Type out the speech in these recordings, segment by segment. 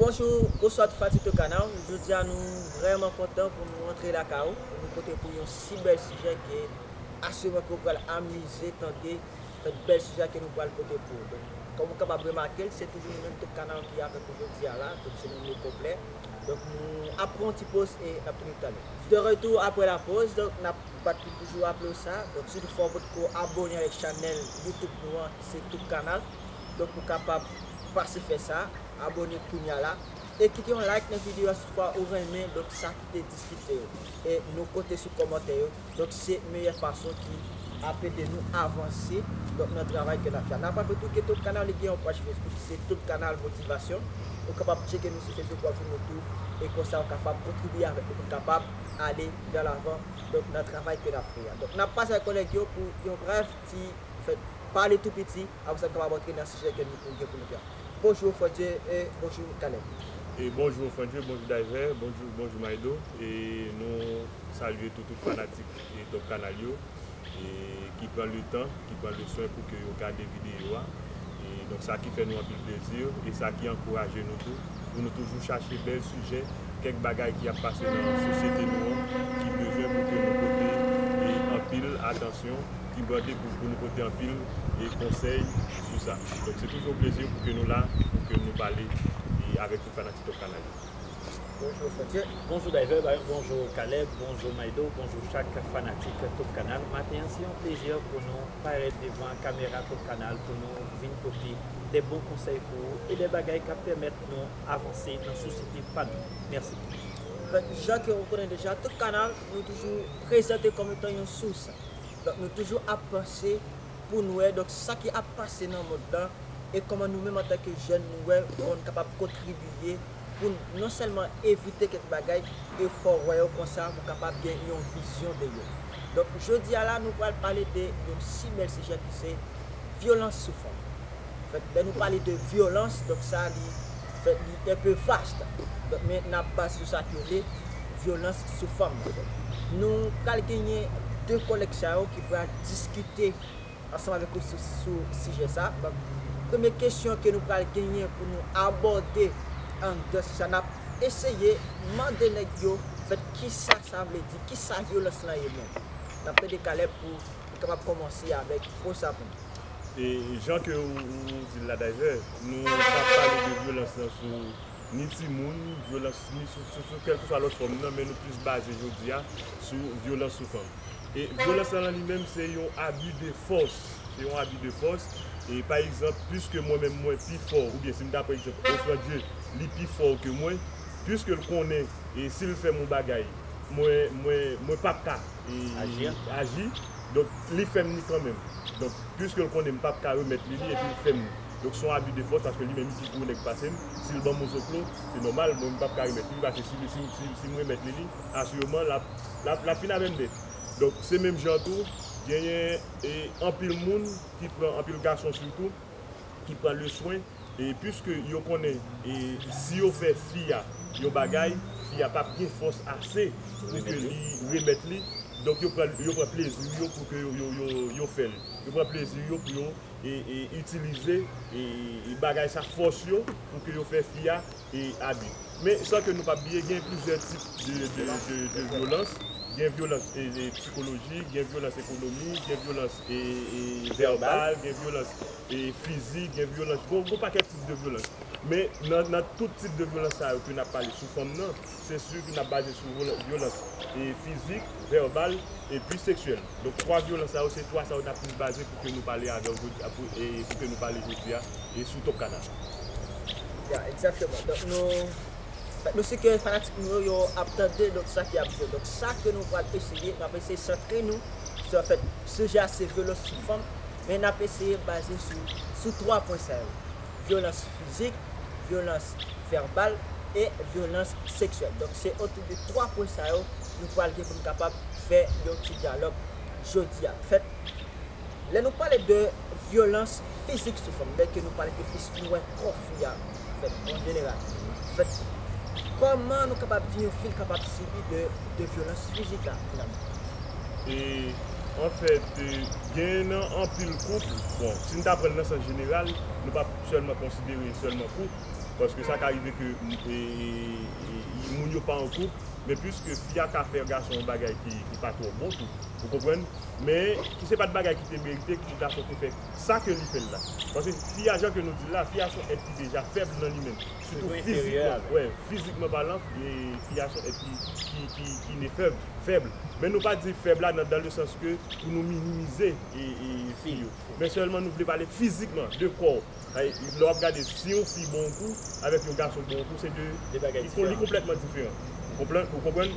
Bonjou oswa tout fati tout kanal jodi a nou vrèman kontan pou nou antre lakay ou pou nou pote pou ou yon si bèl sijè ke asirman ke ou pral amize tande kèk bèl sijè ke nou pral pote pou ou donk kòm ou kapab remake l se toujou nou menm tout kanal ki avèk ou jodi a la donk se nou menm konplè donk nou ap pran yon ti poz e nap tounin talè. De retou aprè la poz donk nap bat pou nou toujou raple ou sa donk si toutfwa ou potko abone avèk chanèl youtube nou an ki se tout kanal donk ou kapab pase fè sa Abone kounya la e kite yon like nan video a si toufa ou renmen donk sa ki te diskite yo e nou kote sou komante yo donk se meyè fason ki ap ede nou avanse donk nan travay ke nap fè a. Nap raple tou ke Top Canal li gen yon paj Facebook ki se Top Canal Motivation ou kapab tcheke nou sou Facebook wap jwenn nou tou e konsa ou kapab kontribye avèk nou poun kapab ale vè lavan donk nan travay ke nap fè a. Donk nap pase ak kolèg yo pou yon brèf ti fè pale tou piti. Aprè sa nou kapab antre nan sijè ke nou gen pou nou fè a. Bonjou Frantye e bonjou Caleb. Bonjou Frantye, bonjou Daiver, bonjou bonjou Maydo e nou salye tou tout fanatik Top Canal yo e ki pran le tan, ki pran le swen pou ke yo gade video a e donk sa ki fè nou anpil plezi e sa ki ankouraje nou tou pou nou toujou chache bèl sijè, kèk bagay ki ap pase nan sosyete nou an ki bezwen pou ke nou pote anpil atansyon. Ki bon dekouvri pou nou pote anpil konsèy sou sa. Donk se toujou yon plezi pou ke nou la, pou ke nou pale avèk tout fanatik Top Canal yo. Bonjou Frontye, bonjou Dayvèb, bonjou Kalèb, bonjou Maydo, bonjou chak fanatik Top Canal. Maten an se yon plezi pou nou parèt devan kamera Top Canal pou nou vin pote de bon konsèy pou ou e de bagay kap pèmèt nou avanse nan sosyete pa nou. Mèsi. Jan ke ou konnen deja, Top Canal nou toujou prezante kòm etan yon sous. Donk nou toujou ap panse pou n wè donk sa ki ap pase nan mond lan e kòman nou menm antanke jèn nou wè kòman nou kapab kontribiye pou n non sèlman evite kèk bagay e fè w wè yo konsa pou w kapab gen yon vizyon de yo. Donk jodi a la nou pral pale de yon si bèl sijè ki se vyolans sou fanm. Fèt lè nou pale de vyolans donk sa li fèt li enpe vast donk men n ap baze sou sa ki rele vyolans sou fanm nan donk nou pral genyen 2 kòlèg sa yo ki pral diskite ansanm avèk ou sou sou sijè sa donk premye kesyon ke nou pral genyen pou nou abòde anndan sijè sa n ap eseye mande nèg yo fèt kisa sa vle di kisa vyolans lan ye menm n ap tande Caleb pou Kapab komanse avek fo sapin. E jan ke ou dil la dayè, nou pa pale de vyolans lan sou ni timoun, vyolans ni sou kelkeswa lot fom nan, men nou plis baze jodi a sou vyolans sou fanm. E vyolans lan lan li menm se yon abi de fos, se yon abi de fos, e pa egzanp piske mwen menm mwen pi fo ou byen si m ta pran egzanp Ofrandye li pi fo ke mwen, piske l konnen e sil fè m yon bagay mwen mwen mwen pap ka. aji, donk li fè m li kan menm. Donk, pwiske l konnen m pap ka remèt li li epi l fè m li. Donk son abi de fòs paske li menm li pi gwo nèg pase m, si l ban m yon zoklo, se nòmal mwen m pap ka remèt li li paske si si m remèt li li, asireman l ap l ap l ap fin avè m nèt. Donk, se menm jan an tou, genyen anpil moun ki pran, anpil gason sitou, ki pran leswen. E puiske yo konnen e si yo fè fi a yon bagay, fi a pap gen fòs ase pou ke li remèt li, donk yo pran yo pran plezi yo pou ke yo yo yo fè l. Yo pran plezi yo pou yo e e itilize e e bagay sa fòs yo pou ke yo fè fi a e abi. Men san ke nou pap bliye gen plizyè tip de de de de vyolans, gen vyolans e e psikolojik, gen vyolans ekonomik, gen vyolans vèbal, gen vyolans fizik, gen vyolans, gen yon pakèt tip de vyolans. Men nan tout tip de vyolans sa yo ke n ap pale sou fanm nan, se si ke n ap baze sou vyolans fizik, vèbal epi seksyèl. Donk 3 vyolans sa yo, se 3 sa yo ta plis baze pou ke nou pale avè w jodi a, pou ke nou pale jodi a sou Top Kadaf. Ya, egzakteman. Donk nou. Nou si ke fanatik nou yo yo ap tande donk sa ki ap jwe. Donk sa ke nou pral eseye, n ap eseye santre nou sou anfèt sijè a se vyolans sou fanm, men n ap eseye baze sou sou 3 pwen sa yo, vyolans fizik, vyolans vèbal e vyolans seksyèl. Donk se otou de 3 pwen sa yo nou pral gen pou n kapab fè yon ti dyalòg jodi a. Fèt. Lè nou pale de vyolans fizik sou fanm, byen ke nou pale ke plis nou wè kò fi a fèt an jeneral, fèt kòman nou kapab di yon fi l kapab sibi de vyolans fizik la finalman? E anfèt gen nan anpil koup, bon si n ta pran l nan sans jeneral, nou pa sèlman konsidere sèlman koup, paske sa ka rive ke moun yo pa an koup, men pwiske fi a ka fè gason yon bagay ki pa twò bon tou, ou konprann? men ki se pat bagay ki te merite ki dakò te fè sa ke li fèl la paske fi a jan ke nou dil la fi a son èt ki deja fèb nan li menm sitou fizikman wè fizikman palan fi a son èt ki ki ne fèb fèb men nou pa di fèb la nan dan le sans ke pou nou minimize fi yo men sèlman nou vle pale fizikman de kò. Lè wap gade si yon fi bon kou avèk yon gason bon kou se 2 bagay diferan li konplètman diferan ou konprann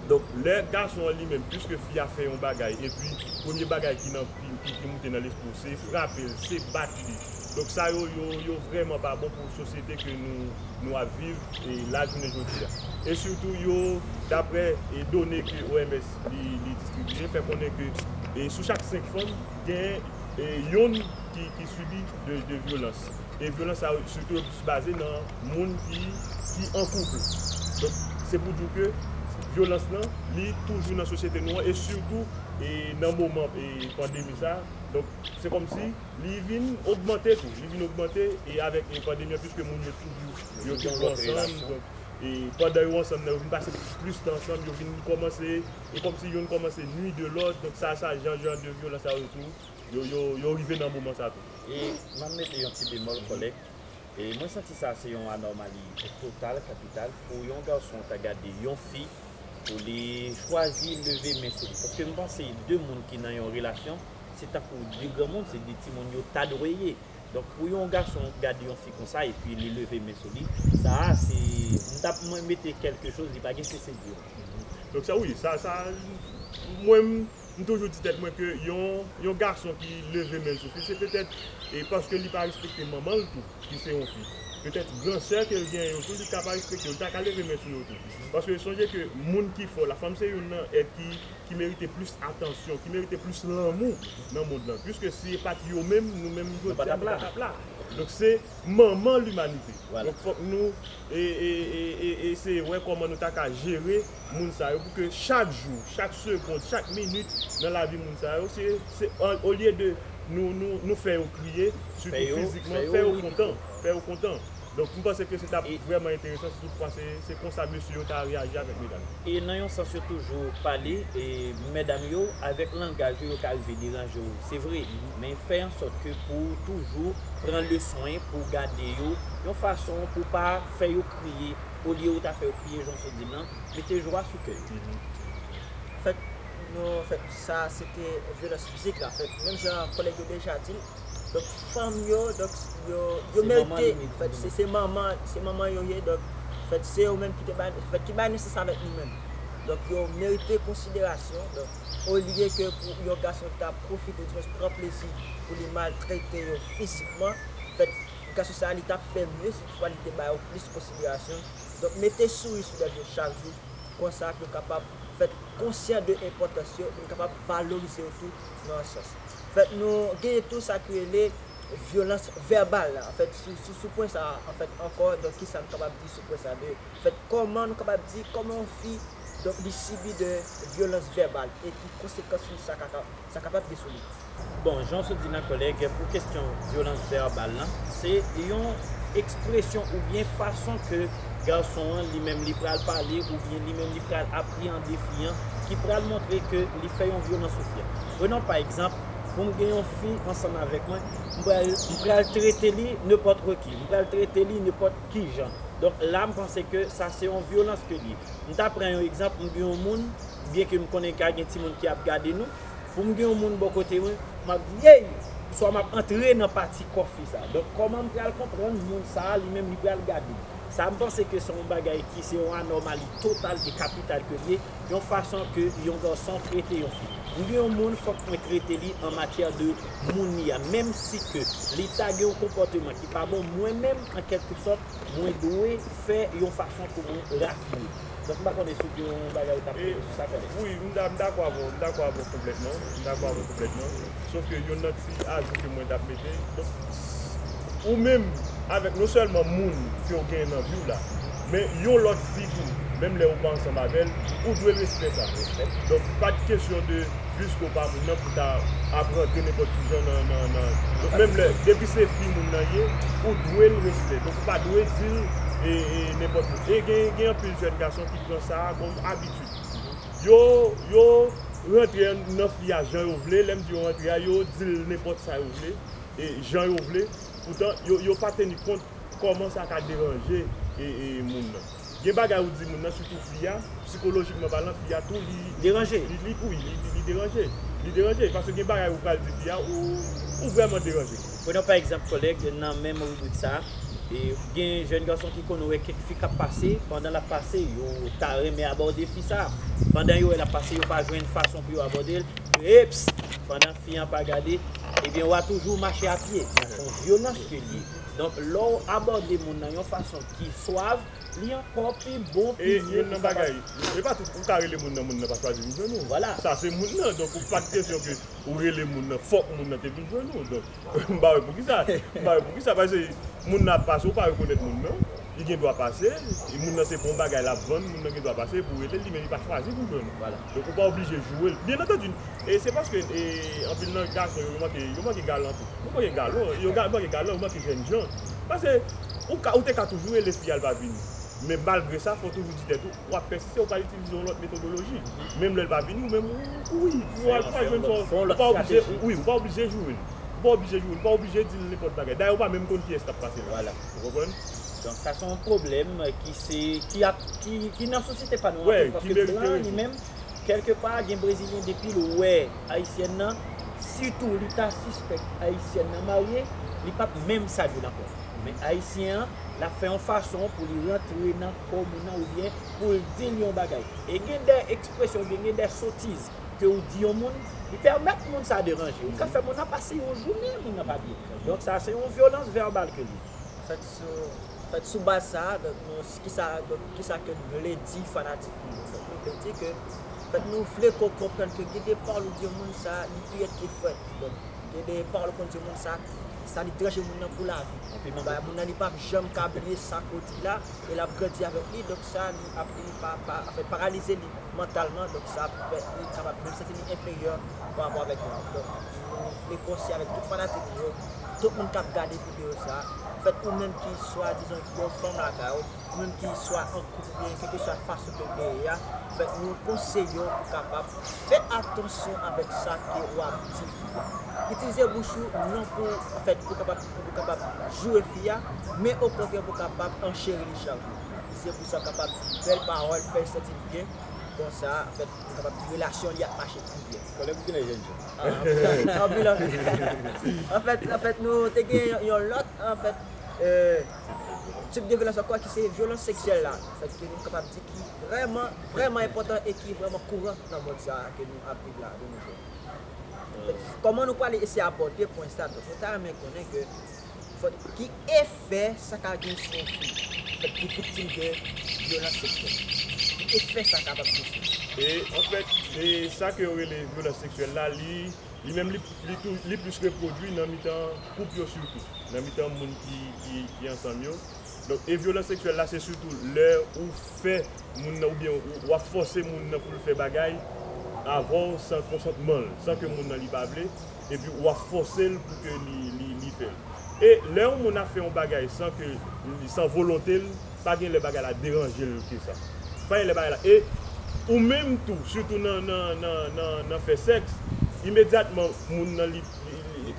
donk lè gason an li menm piske fi a fè yon bagay epi premye bagay ki nan ki moute nan lespri w se frape l se bat li donk sa yo yo vrèman pa bon pou sosyete ke nou nou ap viv e la jounen jodi a e sitou yo daprè e done ke OMS li distribye fè konnen ke e sou chak 5 fanm gen e yon. ki sibi de vyolans e vyolans sa yo sitou yo plis baze nan moun ki an koup donk se pou di w ke vyolans lan li toujou nan sosyete nou an e sitou nan moman pandemi sa donk se kòm si li vin ogmante tou li vin ogmante e avèk pandemi an piske moun yo toujou yo toujou ansanm donk e pandan yo ansanm nan yo vin pase plis tan ansanm yo vin kòmanse e kòm si youn kòmanse nui de lòt donk sa sa jan jan de vyolans sa yo tou Yo rive nan moman sa tou. E m ap mete yon ti bemòl kòlèg, e mwen santi sa se yon anòmali total kapital pou yon gason ta gade yon fi pou li chwazi leve men sou li. Paske m panse 2 moun ki nan yon relasyon se tankou 2 granmoun, se 2 timoun yo ta dwe ye. Donk pou yon gason gade yon fi konsa epi li leve men sou li, sa a se, m ta mwen mete kèlke choz li pa gen sese di yo. Donk sa wi, sa, sa, mwen m. M toujou di tèt mwen ke yon gason ki leve men l sou fi se petèt e paske li pa respekte manman l tou ki se yon fi. Petèt gran sè ke l genyen yo tou li ka pa respekte yo, li ta ka leve men sou yo tou. Paske sonje ke moun ki fò, lafanm se youn nan èt ki merite plis atansyon, ki merite plis lanmou nan mond lan. Piske si e pat yo menm, nou menm jodi a nou pa t ap la. Donk se manman limanite. Donk fòk nou eseye wè kòman nou ta ka jere. moun sa yo pou ke chak jou, chak segond, chak minit nan lavi moun sa yo se se olye de nou nou nou fè yo kriye sitou fizikman fè yo kontan fè yo kontan donk m panse ke se t ap vrèman enteresan sitou m panse se konsa mesye yo ta reyaji avèk medam yo. E nan yon sans yo toujou pale e medam yo avèk langaj yo yo ka rive deranje w se vre men fè an sòt ke pou w toujou pran leswen pou w gade yo yon fason pou w pa fè yo kriye olye ou ta fè yo gaspiye jan w sot di l lan, mete jwa sou kè yo. Fèt nou fèt sa se te vyolans fizik la fèt menm jan kòlèg yo deja di l donk fanm yo donk yo merite fèt se manman se manman yo ye donk fèt se yo menm ki te bay fèt ki bay nesans avèk nou menm donk yo merite konsiderasyon donk olye ke pou yon gason ta pwofite di mwens pran plezi pou li maltrete yo fizikman fèt gason sa li t ap fè mye si toutfwa li te ba yo plis konsiderasyon. Donk mete souri sou lèv yo chak jou, konsa pou yo kapab fèt konsyan de enpòtans yo, pou nou kapab valorize yo tou nan yon sans. Anfèt nou genyen tou sa ki rele vyolans vèbal la, anfèt sou pwen sa a anfèt ankò donk kisa nou kapab di sou pwen sa a de fèt kòman nou kapab di kòman yon fi donk li sibi de vyolans vèbal e ki konsekans li sa ka sa kapab gen sou li. Bon, jan w sot di nan kòlèg, pou kesyon vyolans vèbal lan, se yon ekspresyon oubyen fason ke gason an li menm li pral pale oubyen li menm li pral apreyande fi an ki pral montre ke li fè yon vyolans sou fi an. Prenons pa egzanp, pou m gen yon fi ansanm avèk mwen, m pral m pral trete li nenpòtre ki, m pral trete li nenpòt kijan. Donk la m panse ke sa se yon vyolans ke li ye. M ta pran yon egzanp, m gen yon moun, byenke m konnen ka gen timoun ki ap gade nou, Pou m gen yon moun bò kote mwen, m ap di, Yey! Oswa m ap antre nan pati kòfi sa a. Donk, kòman m pral konprann moun sa a li menm li pral gade m? Sa m panse ke se yon bagay ki se yon anòmali total e kapital ke l ye, yon fason ke yon gason trete yon fi. M gen yon moun fòk mwen trete li an matyè de moun li a. Menm si ke li ta gen yon konpòteman ki pa bon, mwen menm, an kèlke sòt, mwen dwe fè yon fason pou mwen rafine. Donk m pa konnen si w gen yon bagay ou ta ap mete sou sa konnen. Wi, m dakò avè w, m dakò avè w konplètman, m dakò avè w konplètman. Sof ke yonn nan ti ajou ke mwen t ap mete, donk, ou menm avèk non sèlman moun ke w genyen nan vi w la, men yon lòt fi tou, menm lè ou pa ansanm avè l, ou dwe respè sa. Donk, pa t kesyon de. plis ke w pa moun nan pou ta ap rantre nenpòt ki jan nan nan nan donk menm lè depi se fi moun nan ye ou dwe l respè donk ou pa dwe di l e e nenpòt moun e gen gen anpil jèn gason ki pran sa kòm abitid yo yo rantre nan fi a jan yo vle lè m di yo rantre a yo di l nenpòt sa yo vle e jan yo vle poutan yo yo pa teni kont kòman sa ka deranje e e moun nan. Gen bagay ou di moun nan sitou fi a, psikolojikman palan fi a tou li deranje wi li deranje li deranje paske gen bagay ou pral di fi a ou vrèman deranje. Prenons par exemple collègue nan menm ribrik sa gen jèn gason ki konn wè kèk fi kap pase pandan lap pase yo ta renmen abòde fi sa pandan yo wè lap pase yo pa jwenn fason pou yo abòdel eps pandan fi an pa gade ebyen wa toujou mache a pye son vyolans ke liye. Donk, lè w abòde moun nan yon fason ki swav, li ankò pi bon, pi mye pou sa pa. E pa tout, ou ka rele moun nan, moun nan pa chwazi vin jwenn ou. Sa se moun nan. Donk, ou pa gen kesyon ke ou rele moun nan, fòk moun nan te vin jwenn ou. Donk, m pa wè poukisa. M pa wè poukisa. Pase, moun nan ap pase, ou pa rekonèt moun nan. li gen dwa pase, e moun nan se bon bagay l ap vann, moun nan gen dwa pase pou rele l, li menm li pa chwazi pou jwe non. Donk ou pa oblije jwe l. Byen antandi, e se paske anpil nan gason yo manke yo manke galan tou. Yo manke galon, yo manke galan, yo manke jènjan. Pase ou ka ou te ka toujou rele fi a l pa vini. Men malgre sa fò w toujou di tèt ou, w ap pèsiste, ou ka itilize yon lòt metodoloji. Menm lè l pa vini ou menm ou wi, pou al pou al jwenn sa w. Fè yon lòt strateji. Ou pa oblije jwe l. Ou pa oblije jwe l, ou pa oblije di l nenpòt bagay. Dayè ou pa menm konn kiyès k ap pase la. Ou konprann? Donk sa son pwoblèm ki se, ki ap, ki nan sosyete pa nou anpil. Wè, ki merite rezoud. Paske blan li menm, kèlke pa gen brezilyen depi l wè ayisyèn nan, sitou li ta sispèk ayisyèn nan marye, li p ap menm salye l ankò. Men ayisyen an, l ap fè yon fason pou li rantre nan kò moun nan oubyen pou l di l yon bagay. E gen de ekspresyon oubyen gen de sotiz ke ou di yon moun, li pèmèt moun sa deranje. Ou ka fè moun nan pase yon jounen moun nan pa byen. Donk sa se yon vyolans vèbal ke li. Fèt sou, fèt sou baz sa a, donk nou, kisa, donk kisa ke n vle di fanatik nou yo? Donk nou vle di ke, fèt nou vle ke w konprann ke gen de pawòl ou di yon moun sa li pi rèd ke frèt. Donk gen de pawòl ou konn di yon moun sa, sa li deranje moun nan pou lavi. Ba moun nan li pa p janm ka bliye sa ke w di la e l ap grandi avèk li, donk sa li ap vini pa, pa, anfen paralize li. mantalman donk sa ap fè li kapab menm santi li enferyè pa rapò avèk nou donk nou vle konseye avèk tout fanatik nou yo tout moun kap gade videyo sa fèt ou menm ki swadizan gen yon fanm lakay ou ou menm ki swa an koup oubyen kèlkeswa fason ke ou te ye a fèt nou konseye w pou kapab fè atansyon avèk sa ke wap di fi a itilize bouch ou non pou fèt pou kapab joure fi a men okontrè pou kapab ancheri li chak jou. Se pou sa kapab di bèl pawòl, fè l santi l byen, kon sa afèt li kapab di relasyon li ap mache pi byen. Konnen pou kile jènjan. Anpil anpil. Anfèt nou te gen yon lòt anfèt tip de vyolans ankò ki se vyolans seksyèl la anfèt ke nou kapab di ki vrèman vrèman enpòtan e ki vrèman kouran nan mond sa ke nou ap viv la de nou jou. Kòman nou pwale eseye abòde pwen sa? Donk nou ta renmen konnen ke Ki efè sa ka gen sou yon fi ki viktim de vyolans seksyèl? Ki efè sa kapab gen sou li? E anfèt, e sa ke yo rele vyolans seksyèl la, li, li menm li, li tou, li plis repwodui nan mitan koup yo sitou, nan mitan moun ki, ki, ki ansanm yo. Donk, e vyolans seksyèl la se sitou lè ou fè moun nan oubyen ou ap fòse moun nan pou l fè bagay avè w san konsantman l, san ke moun nan li pa vle, epi ou ap fòse l pou ke li fè l. E lè yon moun ap fè yon bagay san ke, san volonte l, pa gen lè bagay la deranje l ke sa. Pa gen lè bagay la, e ou menm tou, sitou nan fè sèks, imedyatman moun nan li,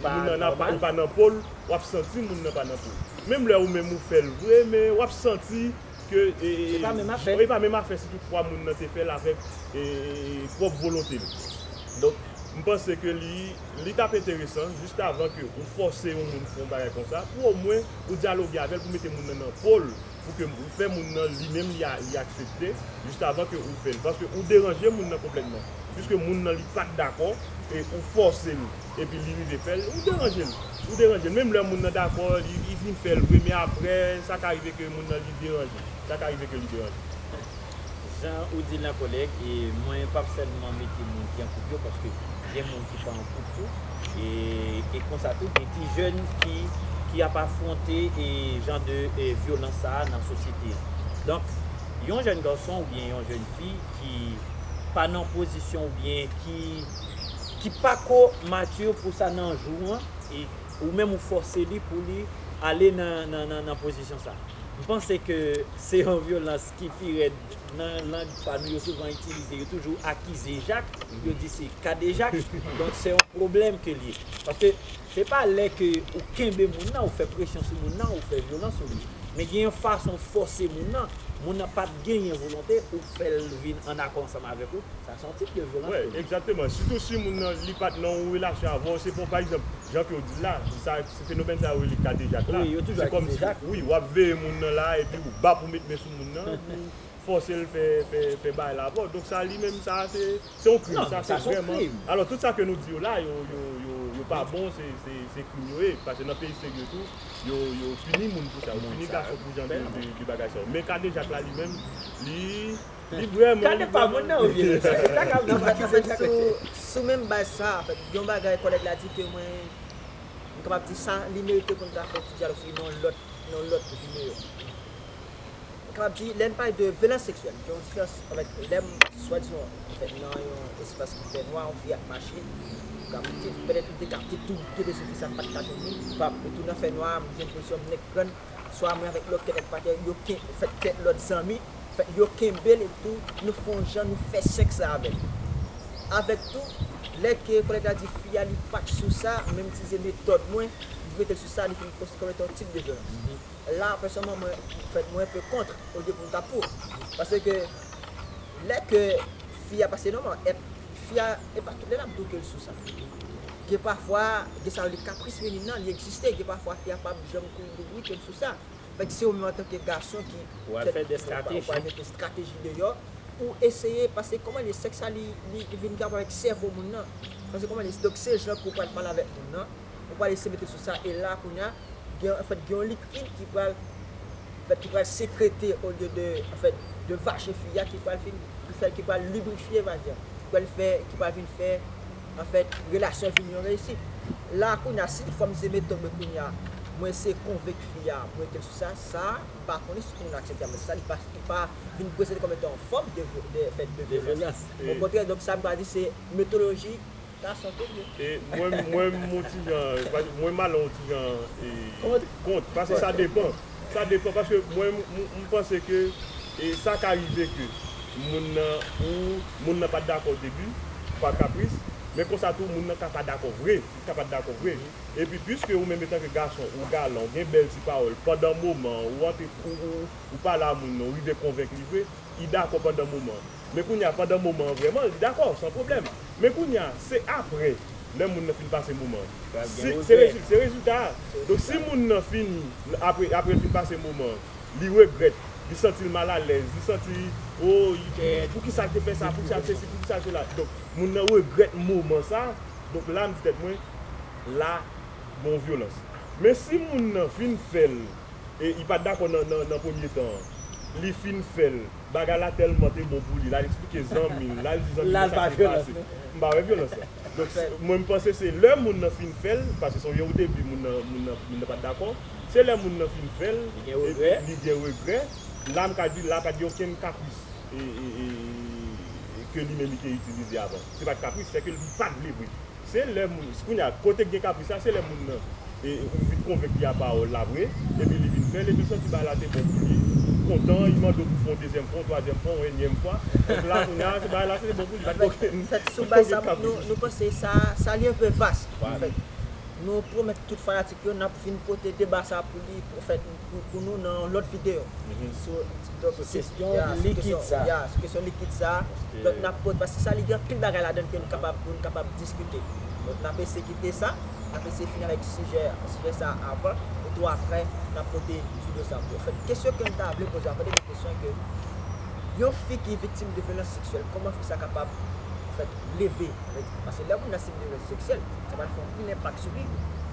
moun nan ap, li pa nan po l, w ap santi moun nan pa nan po l. Menm lè ou menm ou fè l vre men w ap santi. ke e e e pa menm afè si tout fwa moun nan te fèl avèk e e e pwòp volontel donk m panse ke li li tap enteresan jis avan ke ou fòse yon moun fon bagay konsa pou omwen ou dyaloge avèl pou mete moun nan nan pol pou ke ou fè moun nan li menm li a li aksepte jis avan ke ou fèl paske ou deranje moun nan konplètman piske moun nan li pat dakò e ou fòsel Epi li rive fèl, ou deranjel, ou deranjel menm lè moun nan dakò li li fin fèl vre men aprè sa ka rive ke moun nan li deranje, sa ka rive ke li deranje. Jan ou dil la kòlèg e mwen pap sèlman mete moun ki an koup yo paske gen moun ki pa an koup tou e e konsa tou gen ti jèn ki ki ap afwonte e jan de e vyolans sa a nan sosyete an. Donk yon jèn gason oubyen yon jèn fi ki pa nan pozisyon oubyen ki ki pako mature pou sa nan jou an e ou menm ou fòse li pou li ale nan pozisyon sa. M panse ke se yon vyolans ki pi rèd nan lang pa nou yo souvan itilize yo toujou akize Jak yo di se kadejak donk se yon pwoblèm ke l ye paske Se pa lè ke ou kenbe moun nan, ou fè presyon sou moun nan, ou fè vyolans sou li. Men gen yon fason ou fòse moun nan, moun nan pat genyen volonte, ou fè l vin an akò ansanm avèk ou, sa se yon tip de vyolans tou. Wi, egzakteman. Sitou si moun nan li pat nan yon relasyon avè w, se pa w pa egzanp, jan ke w di l la, sa se fenomèn sa yo rele kadejak la. Wi, yo toujou akize jak. Wi, wap veye moun nan la, epi ou bap ou met men sou moun nan, pou fòse l fè fè fè bagay la avè w. Donk sa li menm sa se. Se yon krim, sa se vreman, alò tout sa ke nou di yo la yo yo pa bon se krim yo ye, pase nan peyi serye tou yo yo pini moun pou sa, yo pini gason pou jan de bagay sa yo, men kadejak la li menm li li vreman. Kade pa moun nan ou vye lè sa, kaka ou vye lè sa kaka. Sou menm baz sa, yon bagay kòlèg la di ke mwen m kapab di sa li merite pou n ta fè yon ti dyalòg sou li nan yon lòt videyo. Kap di lè n pale de vyolans seksyèl gen yon diferans avèk lè m swadizan fè nan yon espas ki fè nwa yon fi ap mache m ka monte pètèt m te ka te tou kenbe sou fi sa m pat ka jwenn li pap etou nan fè nwa a m jwenn pozisyon m nèk grann swa mwen avèk lòt kèk lòt patè yo ken fèt kèk lòt zanmi fè yo kenbe l epitou nou fè yon jan nou fè sèks la avè l avèk tou lè ke kòlèg la di fi a li pat sou sa men m itilize metòd mwen m mete l sou sa li fè m konsidere kòm etan yon tip de vyolans. La pèsonman mwen fèt mwen pe kontr olye pou m ta pou. Pase ke lè ke fi a pase nòmal et fi a e pa tout lè nap di w ke l sou sa. Gen pafwa gen sa rele kapris feminine nan li egziste gen pafwa fi a pap janm konn di w wi ke m sou sa. Fèk se ou menm antanke gason ki Ou pral fè de strateji. Ou pral mete strateji deyò pou w eseye pase kòman l ye sèks la li vin gap avèk sèvo moun nan. Pase kòman l ye donk se jan ke w pral pale avèk moun nan. ou pral eseye mete sou sa e la kounya gen an fèt gen yon likid ki pral fèt ki pral sekrete olye de an fèt de vajen fi a ki pral fin ki fèl ki pral librifye vajen an ki pral fè ki pral vin fè an fèt relasyon an vin yon reyisit la kounya si fòm ze mete mwen kounya mwen eseye konvenk fi a pou metel sou sa sa m pa konnen si moun aksepte avèk sa li pa li pa vin prezante kòm etan yon fòm de vyo de an fèt de vyolas okontrè donk sa m ta di se metoloji. Gason tou ye. E mwen mwen m on ti jan mwen m ale on ti jan e kont paske sa depan sa depan paske mwen m panse ke e sa ka rive ke moun nan ou moun nan pat dakò o debi pa kapris men konsa tou moun nan ka pa dakò vre li ka pa dakò vre epi piske ou menm etanke gason ou galan ou gen bèl ti pawòl pandan moman ou antre ou pale a moun nan ou rive konvenk li vre li dakò pandan moman. Men kounye a, pandan moman an vrèman, li dakò, san pwoblèm. Men kounye a, se apre, lè moun nan fin pase moman an. Si, se rezil, se rezilta a. Donk si moun nan fini, apre, apre l fin pase moman an, li regrèt, li santi l mal alèz, li santi, o, pou ki sa l te fè sa, pou ki sa l te sesi, pou ki sa l te la. Donk, moun nan regrèt moman sa, donk la m di tèt mwen, la, gen yon vyolans. Men si moun nan fin fè l, e li pa t dakò nan, nan, nan premye tan an, li fin fè l. Bagay la tèlman te bon pou li, l al eksplike zanmi l, l al di zanmi l sa k te pase. M pa wè vyolans la. Donk, mwen m panse se lè moun nan fin fè l, paske se yon jan odebi moun nan, moun nan, moun nan pa t dakò, se lè moun nan fin fè l, epi li gen regrè, la m ka di, la pa t gen okenn kapris ke li menm li te itilize avan. Se pa t kapris, se ke li pa t vle vre. Se lè moun, kounye a, kote k gen kapris la, se lè moun nan vin konvenk li a pawòl la vre, epi li vin fè l, epi santi bagay la te bon pou li, kontan, li mande w pou w fè yon dezyèm fwa, yon twazyèm fwa, yon enyèm fwa, donk la kounye a, bagay la te bon pou li, pa t gen okenn kapris. Anfèt, sou baz sa, nou panse sa, sa li enpe vas, anfèt. Nou pwomèt tout fanatik yo, n ap vin pote deba sa pou li, anfèt. pou nou nan yon lòt video sou kesyon likid sa ya sou kesyon likid sa donk nap poze paske sa li gen anpil bagay ladann ke nou kapab ke nou kapab diskite donk nap eseye kite sa nap eseye fini avèk sijè sijè sa avan etou aprè nap pote video sa pou anfèt kesyon kem ta vle poze avan dènye kesyon ke yon fi ki viktim de vyolans seksyèl kòman fi sa kapab anfèt leve paske lè moun nan sibi vyolans seksyèl sa pral fè anpil enpak sou li.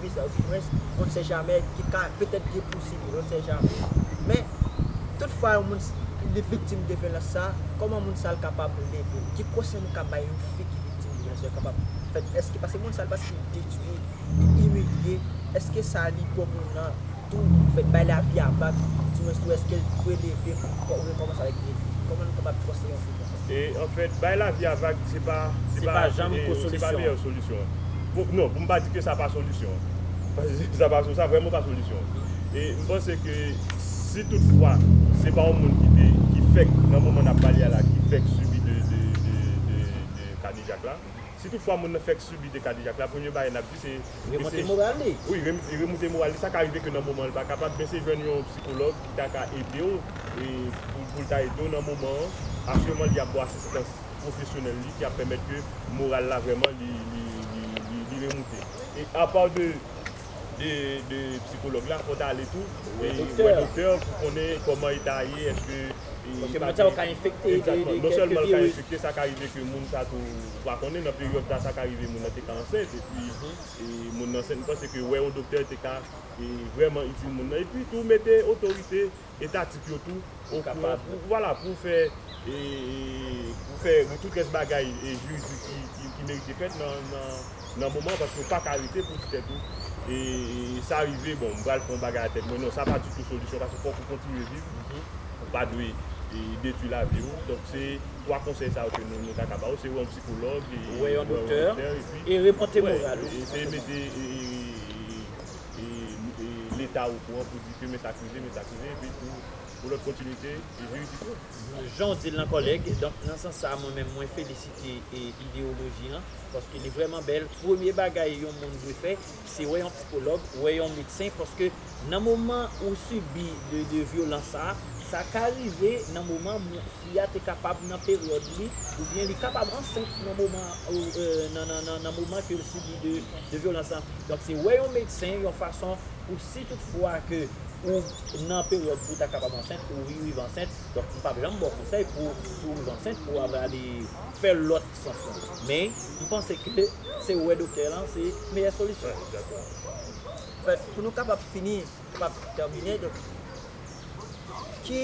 Louis L. Dumorens, on ne sait jamais, ki ka petèt gen posible, on ne sait jamais. Men, tout fwa yon moun li viktim de vyolans sa, kòman moun sa l kapab leve l? Ki konsèy nou ka bay yon fi ki viktim de vyolans sa yo kapab fè? Èske, paske moun sa l paske l detwi, li imilye, èske sa li bon pou l nan Tou, fè n bay lavi a vag, di mwen tou èske l dwe leve pou l rekòmanse avèk defi? Kòman nou kapab fòse yon fi konsa? E, anfèt, bay lavi a vag se pa, se pa, se pa meyè solisyon an. Pou, non, pou m pa di ke sa pa solisyon an. Paske sa pa, sa vrèman pa solisyon an. E, m panse ke si tout fwa se pa yon moun ki te, ki fèk nan moman n ap pale a la ki fèk sibi de, de, de, de, de kadejak la, si tout fwa moun nan fèk sibi de kadejak la, premye bagay n ap di se. Remonte moral li. Wi, li remoute moral li. Sa ka rive ke nan moman an li pa kapab, men se jwenn yon psikològ ki ta ka ede w, pou l ta ede w nan moman an. Asirèman li ap ba w asistans pwofesyonèl li ki ap pèmèt ke moral la vrèman li remoute. E apa de psikològ la, fò w ta ale tou wè doktè pou konnen kòman eta a ye, èske li pa gen. Paske moral ou ka enfekte. Egzatman. Non sèlman li ka enfekte, sa ka rive ke moun sa tou. Ou pa konnen nan peryòd sa sa ka rive moun nan te ka ansent epi moun nan ansent mpanse ke wè yon doktè te ka vrèman itil moun nan epi tou mete otorite etatik yo tou okouran pou vwala pou fè pou fè tout rès bagay jiridik ki merite fèt nan moman an paske ou paka rete pou di tèt ou sa rive bon mpral fè yon bagay a tèt mwen non sa pa ditou solisyon paske fòk ou kontinye viv ou pa dwe detwi lavi ou donk se 3 konsèy sa yo ke nou ta ka ba ou se wè yon psikològ, wè yon doktè e remonte moral ou. Eseye mete leta ou kouran pou di ke men sa k rive, men sa k rive epi pou lòt kontinite jiridik yo. Jan w di l lan kòlèg, donk nan sans sa mwen menm mwen felisite ideyoloji an paske li vrèman bèl. Premye bagay yon moun dwe fè se wè yon psikològ, wè yon medsen paske. Nan moman ou sibi de de vyolans sa, sa ka rive nan moman mou fi a te kapab nan peryòd li ou byen li kapab ansent nan moman nan nan moman ke l sibi de de vyolans sa. Donk se wè yon medsen yon fason pou si tout fwa ke ou nan peryòd pou ta kapab ansent ou riv ansent, donk m pap janm ba w konsèy pou si w riv ansent pou w ap ale fè lòt sans lan. Men m panse ke se wè doktè lan se meyè solisyon. But pou nou kapab fini nou pap tèmine donk ki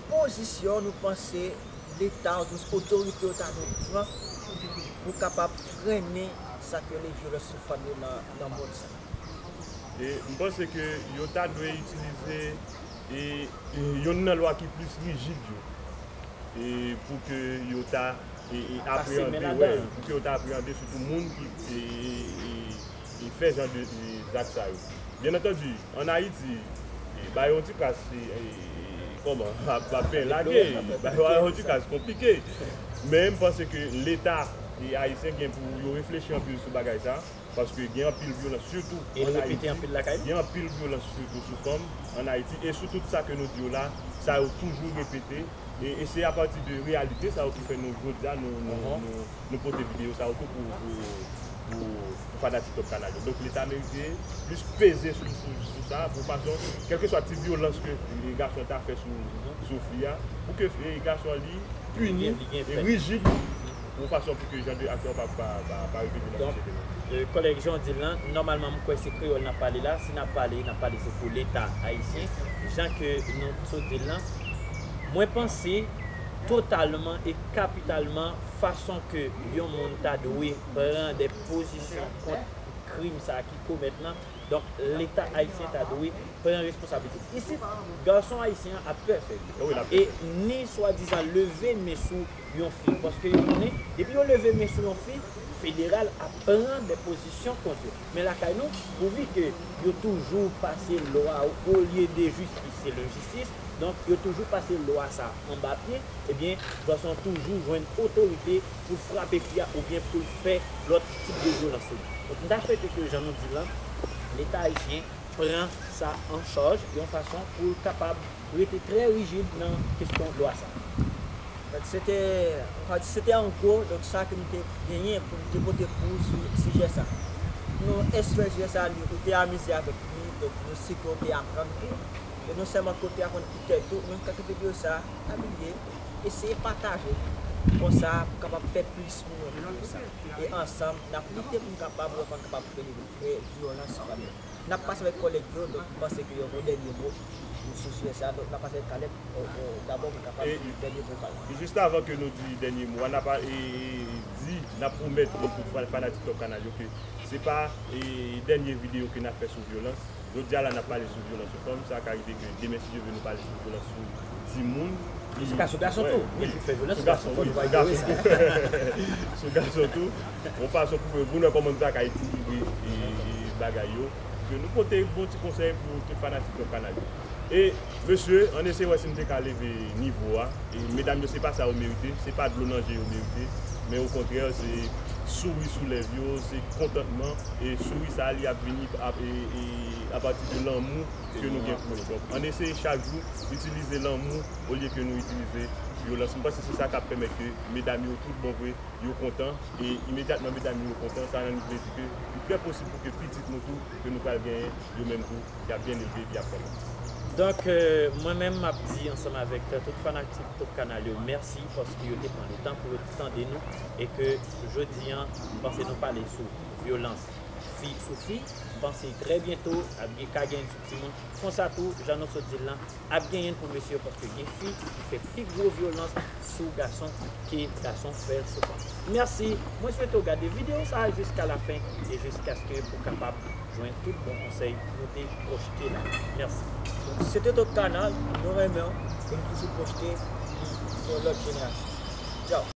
pozisyon nou panse leta oubyen otorite yo ta dwe pran pou kapab frennen sa k rele vyolans sou fanm yo nan mond sa? M panse ke yo ta dwe itilize youn nan lwa ki plis rijid yo pou ke yo ta apreyande sitou moun ki fè jan de zak sa yo. Byen antandi, an Ayiti, ba yo yon ti kas se kòman, ap fè lage, ba yo yon ti kas konplike. Men m panse ke Leta ayisyen gen pou yo reflechi anpil sou bagay sa, paske gen anpil vyolans sitou an Ayiti, gen anpil vyolans sitou sou fanm an Ayiti e sou tout sa ke nou di yo la, sa yo toujou repete e se apati de reyalite sa yo ki fè nou jodi a nou pote videyo sa yo tou pou pou fanatik Top Kanal yo. Donk leta merite plis peze sou sa pou fason kèlkeswa ti vyolans ke gason ta fè sou fi a pou ke gason an li pini, rijid yon fason pou ke jan de aksyon pa repete nan sosyete nou an. Kòlèg jan w di l lan, nòmalman m kwè se kreyòl n ap pale la, si n ap pale, n ap pale se pou leta ayisyen, jan ke nou sot di l lan. Mwen panse totalman e kapitalman fason ke yon moun ta dwe. pran de pozisyon kont krim sa a ki komèt lan, donk leta ayisyen ta dwe pran responsabilite l. Isit, gason ayisyen an ap pè fè li e ni swadizan leve men sou yon fi paske yo konnen depi yo leve men sou yon fi, federal ap pran de pozisyon kont yo. Men lakay nou, pouvi ke yo toujou pase lwa olye de jistis se lejistis, donk yo toujou pase lwa sa a anba pye, ebyen gason toujou jwenn otorite. pou l frape fi a oubyen pou l fè lòt tip de vyolans sou li. Donk, m ta swete ke jan nou di l lan, Leta ayisyen pran sa an chaj yon fason pou l kapab rete trè rijid nan kesyon lwa sa a. Donk, se te, m ka di, se te an gwo, donk, sa ke m te genyen pou m te pote pou ou sou sijè sa a. Nou espere sijè sa a li, ou te amize avèk li, donk, nou si ke ou te aprann tou. E non sèlman ke ou te aprann pou tèt ou, men m ka kenbe diyo sa a, pa bliye, Eseye pataje li. Konsa pou kapab fè plis moun wè videyo sa. E ansanm nap lite poun kapab wè pa kapab fè vyolans sou fanmi. Nap pase avèk kòlèg yo donk m panse ke yo gen yon dènye mo sou sijè sa donk nap pase avèk Caleb dabò pou kapab di dènye mo pal. Jis avan ke nou di dènye mo a nap di nap pwomèt nou tout fanatik top canal yo ke se pa dènye videyo ke nap fè sou vyolans. Jodi a la nap pale sou vyolans sou fanm, sa ka rive ke demen si Dye ve nou pale sou vyolans sou timoun, ki Sou gason gason tou, wi, li k fè vyolans sou gason fò nou pa inyore sa. Sou gason tou, yon fason pou ke, pou nou wè kòman nou ta ka ekilibre bagay yo, ke nou pote bon ti konsèy pou tout fanatik Top Kanal yo. E. Mesye an eseye wè si n te ka leve nivo a e medam yo se pa sa yo merite, se pa dlo nan je yo merite men okontrè se souri sou lèv yo, se kontantman e souri sa li ap vini apati de lanmou ke nou gen pou yo donk an eseye chak jou itilize lanmou olye ke nou itilize vyolans m panse se sa kap pèmèt ke medam yo tout bon vre yo kontan e imedyatman medam yo kontan sa nan vle di ke li trè posib pou ke pitit nou tou ke nou pral genyen yo menm tou Yap byen leve epi yap fè mas. Donk mwen menm map di ansanm avèk tout fanaktik tout kanal yo mèsi paske yo te pran le tan pou yo te tande nou e ke jodi an m panse nou pale sou vyolans fi sou fi m panse trè byento ap gen ka gen l sou timoun konsa tou jan nou sot di l lan Ap genyen pou mesye paske gen fi ki fè pi gwo vyolans sou gason ke gason fè sou fanm. Merci! Mwen swete w gade video sa a jiska la fen e jiskaske ou kapab jwenn tout bon konsèy nou te pwochte la. Merci! Donk se te Top Canal, nou renmen w e nou toujou pwochte pou yon lòt jenerasyon. Tchao!